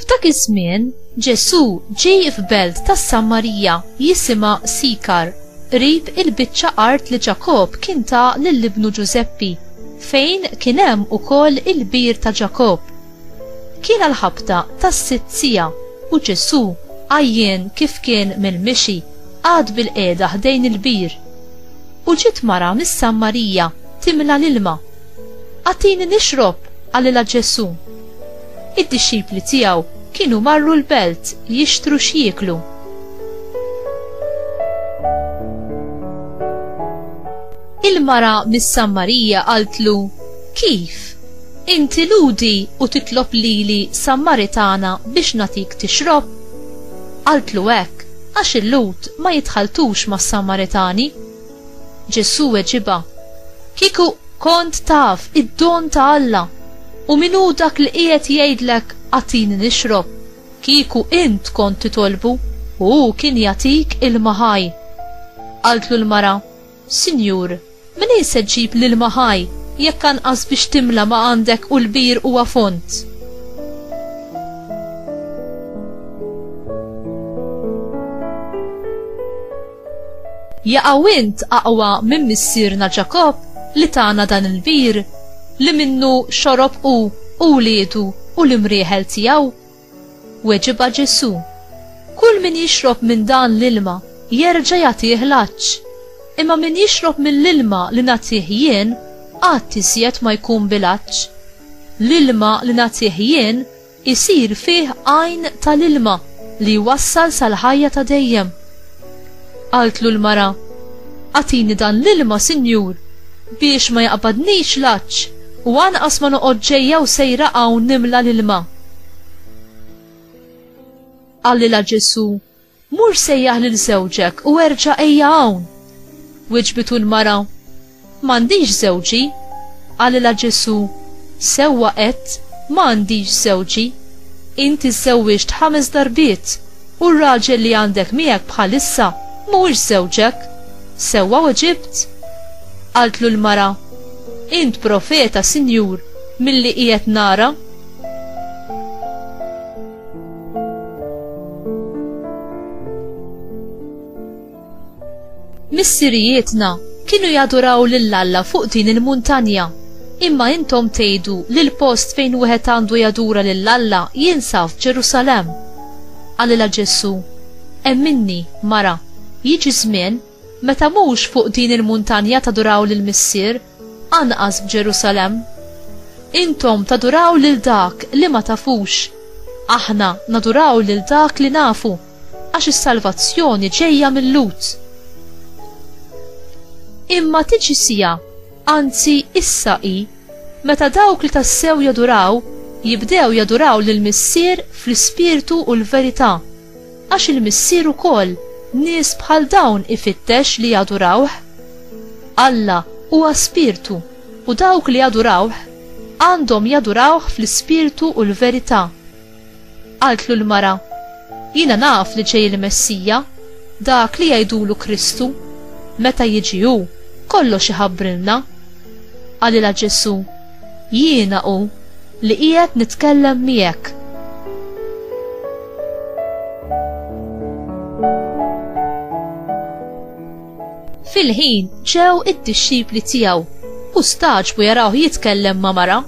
F'dak iż-żmien, Ġesù ġie f'belt tas-Samarija jisimha Sikar, qrib il-biċċa art li Ġakobb kien ta lil ibnu Ġużeppi, fejn kien hemm ukoll il-bir ta' Ġakobb. Kien għall-ħabta tas-sitt siegħa u Ġesù, għajjien kif kien mill-mixi, qagħad bilqiegħda ħdejn il-bir. U ġiet mara mis-Samarija timla l-ilma. Agħtini nixrob, qalilha Ġesù. Id-dixxipli tiegħu kienu marru l-belt jixtru x'jieklu. Il-mara mis-Sammarija qaltlu, Kif? Inti ludi u titlob lili Sammaritana biex natik tixrob? Qaltlu hekk għax il-Lhud ma jitħaltux mas-Sammaritani. Ġesù weġibha, Kieku kont taf id-don ta' Alla u min hu dak li qiegħed jgħidlek agħtini nixrob, kieku int kont titolbu u hu kien jagħtik ilma ħaj. Qaltlu l-mara, Sinjur, minejn se ġġib l-ilma ħaj jekk anqas biex timla ma għandek u l-bir huwa fond? Jaqaw int aqwa minn missierna Ġakobb li tana dan il-bir, li minnu xorob hu u wliedu u l-imrieħel tiegħu? Weġibha Ġesù, Kull min jixrob minn dan l-ilma jerġa' jagħtih l-għatx, imma min jixrob mill-ilma li nagħtih jien qatt iżjed ma jkun bil-għatx. L-ilma li nagħtih jien Isir fih għajn tal-ilma li jwassal sal-ħajja ta' dejjem. Qaltlu l-mara, Agħtini dan l-ilma, Sinjur, biex ma jaqbadnix l-għatx u anqas ma noqgħod ġejja u sejra hawn nimla l-ilma. Qalilha Ġesù, Mur sejjaħ lil żewġek u erġa' ejja hawn! Wiġbitu l-mara, M'għandix żewġi. Qalilha Ġesù, Sewwa għedt, ma għandix żewġi. Inti żżewwiġt ħames darbiet, u r-raġel li għandek miegħek bħalissa mhuwiex żewġek. Sewwa weġibt? Qaltlu l-mara, Int profeta, Sinjur, milli qiegħed nara. Missirijietna kienu jaduraw lil Alla fuq din il-muntanja. Imma intom tgħidu li l-post fejn wieħed għandu jadura lil Alla jinsab f'Ġerusalemm. Qalilha Ġesù, Hemm minni, mara, jiġi żmien meta mhux fuq din il-muntanja taduraw lill-Missier, Anqas f'Ġerusalemm. Intom taduraw lil dak li ma tafux. Aħna naduraw lil dak li nafu, għax is-salvazzjoni ġejja mil-Lhud. Imma tiġi siegħa, anzi issa hi, meta dawk li tassew jaduraw jibdew jaduraw lill-Missier fl-ispirtu u l-verità. Għax il-Missier ukoll nies bħal dawn ifittex li jadurawh. Alla huwa Spirtu u dawk li jadurawh għandhom jadurawh fl-ispirtu u l-verità. Qaltlu l-mara, Jiena naf li ġej il-Messija, dak li jgħidulu Kristu. Meta jiġi hu, kollox iħabbrilna. Qalilha Ġesù, Jiena hu li qiegħed nitkellem miegħek. Fil-ħin ġew id-dixxipli tiegħu u staġbu jarawh jitkellem ma' mara,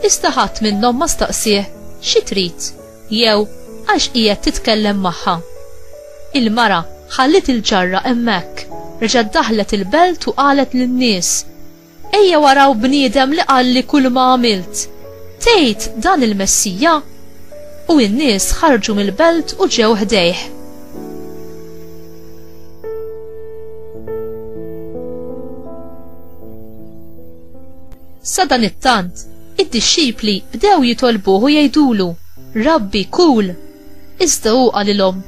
iżda ħadd minnhom ma staqsih xi trid jew għax qiegħed titkellem magħha. Il-mara ħalliet il-ġarra hemmhekk, reġgħet daħlet il-belt u qalet lin-nies, Ejjew araw bniedem li qalli kulma għamilt, Tgħid dan il-Messija? U n-nies ħarġu mill-belt u ġew ħdejh. Sadanittant, id-dixxipli bdew jitolbuh u jgħidulu, Rabbi, kul! Iżda hu qalilhom,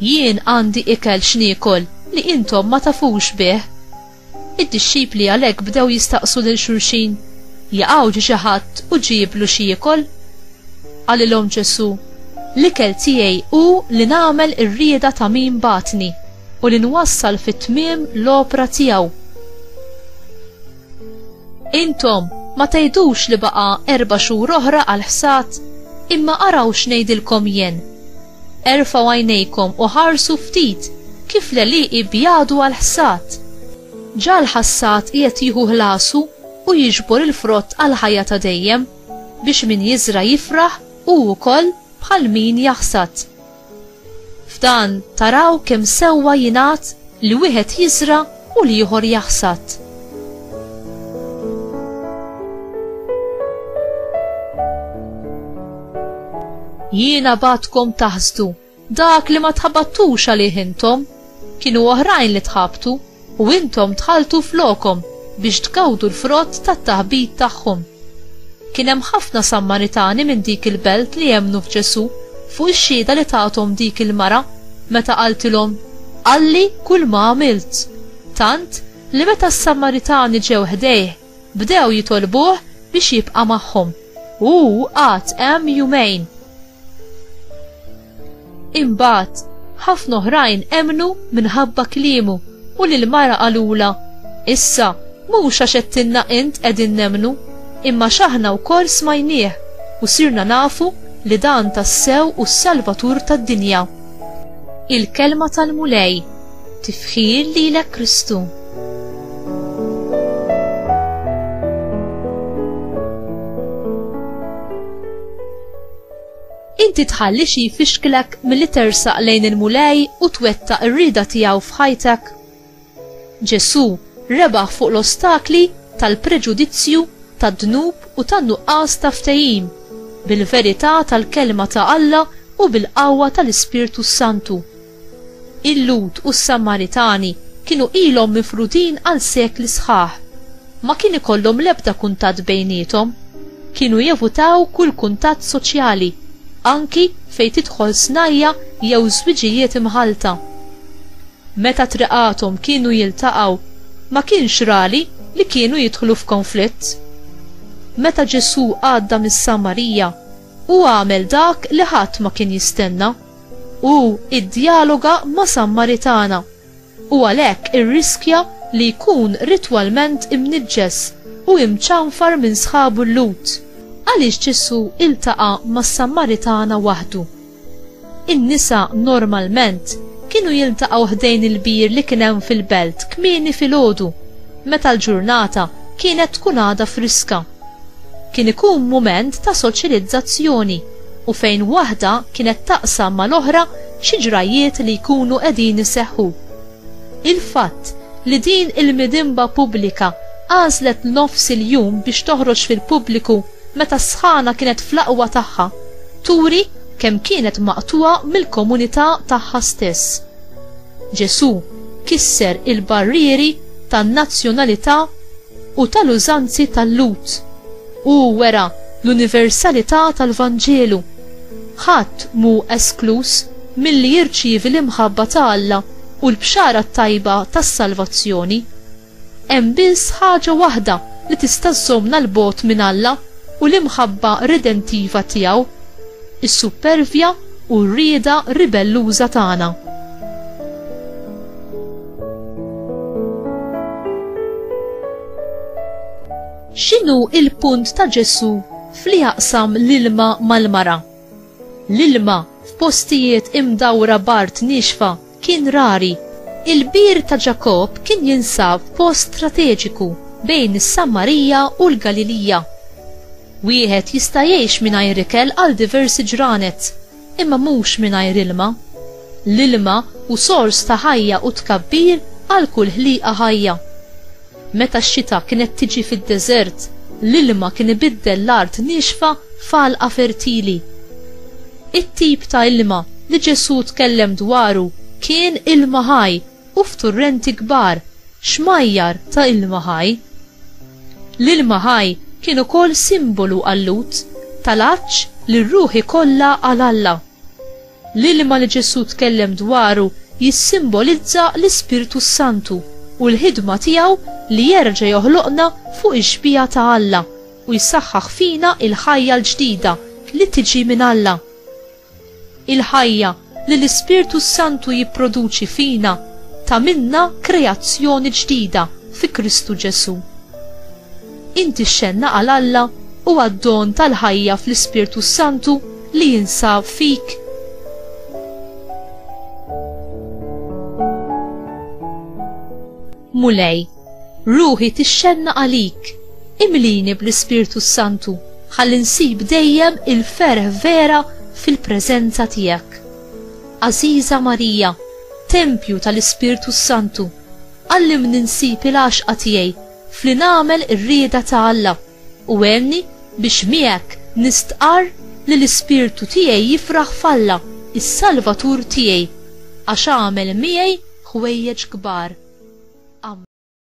Jien għandi ikel x'niekol li intom ma tafux bih. Id-dixxipli għalhekk bdew jistaqsu lil xulxin, Jaqaw ġie xi ħadd u ġieblu xi jiekol? Qalilhom Ġesù, L-ikel tiegħi hu li nagħmel ir-rieda ta' min bagħatni u li nwassal fit-tmiem l-opra tiegħu. Intom ma tgħidux li baqa' erba' xhur oħra għall-ħsad? Imma araw x'ngħidilkom jien, Erfgħu għajnejkom u ħarsu ftit kif l-għelieqi jbjadu għall-ħsad. Ġa l-ħassad qiegħed jieħu ħlasu u jiġbor il-frott għall-ħajja ta' dejjem, biex min jiżra' jifraħ hu wkoll bħal min jaħsad. F'dan taraw kemm sewwa jingħad li wieħed jiżra' u l-ieħor jaħsad. Jiena bagħatkom taħsdu dak li ma tħabattux għalih intom, kienu oħrajn li tħabtu u intom tħaltu flokom biex tgawdu l-frott tat-taħbit tagħhom. Kien hemm ħafna Sammaritani minn dik il-belt li emmnu f'Ġesù fuq ix-xhieda li tathom dik il-mara meta qaltilhom, Qalli kull ma għamilt. Tant li meta s-Sammaritani ġew ħdejh, bdew jitolbuh biex jibqa' magħhom, u hu għad hemm jumejn. Imbagħad ħafna oħrajn emnu minħabba kliemu u lil mara qalula, issa mhux għax qedtilna int qegħdin nemnu, imma x'aħna wkoll smajnieh u sirna nafu li dan tassew u s-Salvatur tad-dinja. Il-kelma tal-Mulej tifħir lilek Kristu. Inti tħalli xi jfixklek milli tersaq lejn il-Mulej u twettaq ir-rieda tiegħu f'ħajtek? Ġesù rebaħ fuq l-ostakli tal-preġudizzju, tad-dnub u tan-nuqqas ta' ftehim, bil-verità tal-Kelma ta' Alla u bil-qawwa tal-Ispirtu s-Santu. Il-Lhud u s-Samaritani kienu ilhom mifrudin għal sekli sħaħ. Ma kien ikollhom l-ebda kuntatt bejniethom. Kienu jevutaw kull kuntatt soċjali, anki fejn tidħol snajja' jew żwiġijiet imħallta. Meta triqathom kienu jiltaqgħu, ma kienx rari li kienu jidħlu f'konflitt. Meta Ġesù għadda mis-Samarija, hu għamel dak li ħadd ma kien jistenna. Hu iddjaloga ma' Sammaritana, u għalhekk irriskja li jkun ritwalment imniġġes u imċanfar minn sħabu l-Lhud. Għaliex Ġesù iltaqa' mas-Sammaritana waħdu? In-nisa normalment kienu jiltaqgħu ħdejn il-bir li kien hemm fil-belt kmieni filgħodu, meta l-ġurnata kienet tkun għadha friska. Kien ikun mument ta' soċilizzazzjoni u fejn waħda kienet taqsam mal-oħra xi ġrajjiet li jkunu qegħdin iseħħu. Il-fatt li din il-midinba pubblika għażlet nofs il-jum biex toħroġ fil-pubbliku meta s-sħana kienet fl-aqwa tagħha turi kemm kienet maqtugħa mill-komunità tagħha stess. Ġesù kisser il-barrieri tan-nazzjonalità u tal-użanzi tal-Lhud. Hu wera l-universalità tal-Vanġelu. Ħadd mhu eskluż milli jirċievi l-imħabba ta' Alla u l-bxara t-tajba tas-salvazzjoni. Hemm biss ħaġa waħda li tista' żżommna 'l bogħod minn Alla u l-imħabba redentiva tiegħu, is-suppervja u r-rieda ribelluża tagħna. X'inhu il-punt ta' Ġesu f'li jaqsam l-ilma mal-mara? L-ilma f'postijiet imdawra b'art niexfa kien rari. Il-bir ta' Ġakobb kien jinsab f'post strateġiku bejn is-Sammarija u l-Galilija. Wieħed jista' jgħix mingħajr ikel għal diversi ġranet. Imma mhux mingħajr ilma. L-ilma hu sors ta' ħajja u tkabbir għal kull ħliqa ħajja. Meta x-xita kienet tiġi fid-deżert, l-ilma kien ibiddel l-art niexfa f'għalqa fertili. It-tip ta' ilma li Ġesù tkellem dwaru kien ilma ħaj. u f'turrenti kbar, xmajjar ta' ilma ħaj. L-ilma ħaj kien ukoll simbolu għal-Lhud, tal-għatx li r-ruħ ikollha għal Alla. L-ilma li Ġesù tkellem dwaru jissimbolizza l-Ispirtu s-Santu u l-ħidma tiegħu li jerġa' joħloqna fuq ix-xbieha ta' Alla u jsaħħaħ fina l-ħajja l-ġdida li tiġi minn Alla. Il-ħajja li l-Ispirtu s-Santu jipproduċi fina tagħmilna kreazzjoni ġdida fi Kristu Ġesù. Inti xxenna għal Alla u għad-don tal-ħajja fl-Ispirtu s-Santu li jinsab fik? Mulej, ruħi tixxenna għalik, imlini bl-Ispirtu s-Santu, ħalli nsib dejjem il-ferħ vera fil-preżenza tiegħek. Għażiża Marija, tempju tal-Ispirtu s-Santu, għallimni nsib il-għaxqa tiegħi f'li nagħmel ir-rieda ta' Alla. U għenni biex miegħek nistqarr li l-ispirtu tiegħi jifraħ f'Alla, is-Salvatur tiegħi, għax għamel miegħi ħwejjeġ kbar. Ammen.